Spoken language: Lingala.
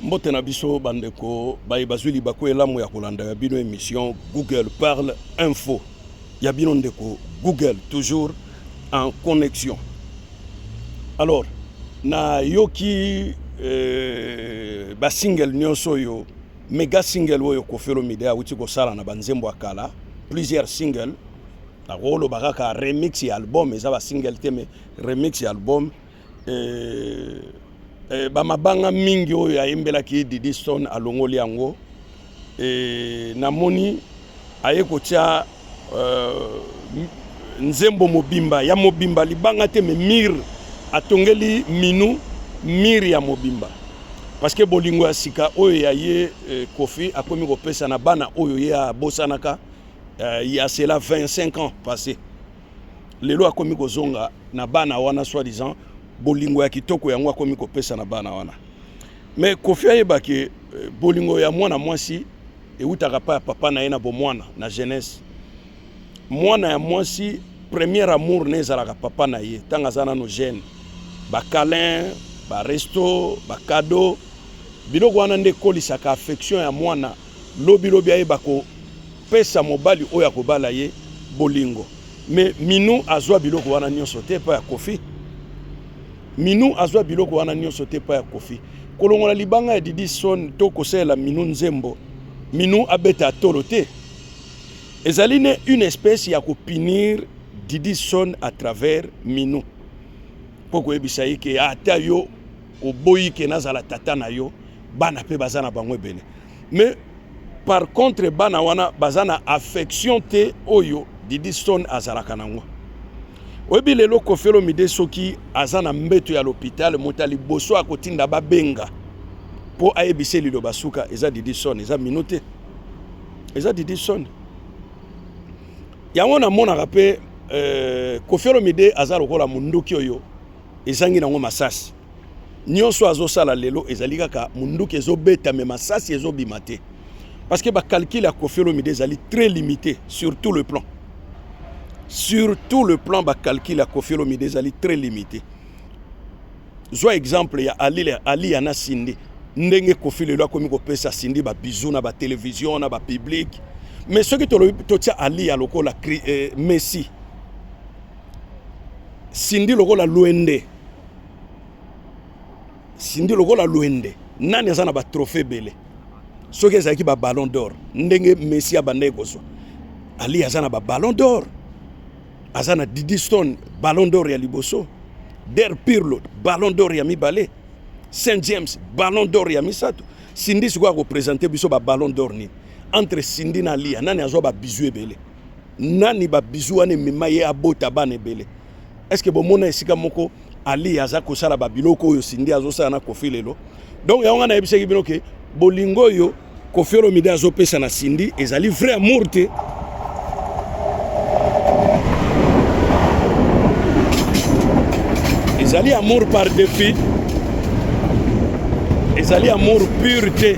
mbote na biso bandeko baye bazwi libaku elamu ya kolanda ya bino emission google parle info ya bino ndeko google toujours en connexion alors nayoki euh, basingle nyonso oyo mega single oyo kofelo mide awuti kosala na banzembo ya kala plusieurs single nakoloba kaka remix ya album eza basingle te me Remix ya album eh, eh, ba mabanga mingi oyo ayembelaki Didi Stone alongoli yango eh, namoni aye kotia euh, nzembo mobimba ya mobimba libanga te me mire atongeli minu mire ya mobimba parce que bolingo ya sika oyo ya ye eh, kofi akomi kopesa na bana oyo ye abosanaka euh, ya cela 25 ans passé lelo akomi kozonga na bana wana soit disant bolingo ya kitoko yango akomi kopesa na bana wana mais kofi ayeba ke euh, bolingo ya mwana mwasi ewutaka pa ya papa na ye na bomwana na jeunesse mwana ya mwasi premier amour ne ezalaka papa na ye ntango aza nano jeune bacalin baresto bacado biloko wana nde ekolisaka affection ya mwana Lobi lobi ayeba ko pesa mobali oyo akobala ye bolingo. Mais Minou azwa biloko wana nionso te pa ya Kofi. Minou azwa biloko wana nionso te pa ya Kofi. Kolongola libanga ya Didi Son to kosalela Minou nzembo. Minou abeta tolo te. Ezali ne une espèce ya ko punir Didi Son à travers Minou. Poko ebisa ye ke ata yo Oboyi ke nazala tata na yo, bana pe baza na bango ebele mais par contre bana wana baza na affection te oyo Didi Stone azalaka nango. Oyebi lelo Koffi Olomide soki aza na mbeto ya l'hôpital moto ya liboso akotinda babenga mpo ayebisa ye liloba suka eza Didi Stone, eza Minou te, eza Didi Stone. Yango namonaka mpe euh, Koffi Olomide aza lokola monduki oyo ezangi nango masasi nyonso azosala lelo ezali kaka munduki ezobeta me masasi ezobima te parce que bacalcule ya kofi olomide ezali très limité sur tout le plan sur tout le plan bacalcule ya kofi olomide ezali très limité zwa exemple ya ali, ali yana sindi ndenge kofi lelo akomi kopesa sindi babizou na batelevizio na bapublike mais soki tolobi totia ali ya lokola eh, messi Cindy lokola luende Cindy lokola luende nani aza na ba trophée ebele soki ezalaki ba ballon d'or ndenge Messi abandaki kozwa Ali aza na ba ballon d'or aza na Didi Stone ballon d'or ya liboso Der Pirlo ballon d'or ya mibale Saint James ballon d'or ya misato Cindy sikoyo akopresente biso ba ballon d'or nini entre Cindy na Aliya nani azwa ba bizu ebele nani ba bisous wana emema ye abota bana ebele est ce que bomona esika moko ali aza kosala ba biloko oyo sindi azosala na kofi lelo donc yango nga nayebisaki bino ke bolingo oyo kofi olomide azopesa na sindi ezali vrai amour te ezali amour par défi ezali amour pure te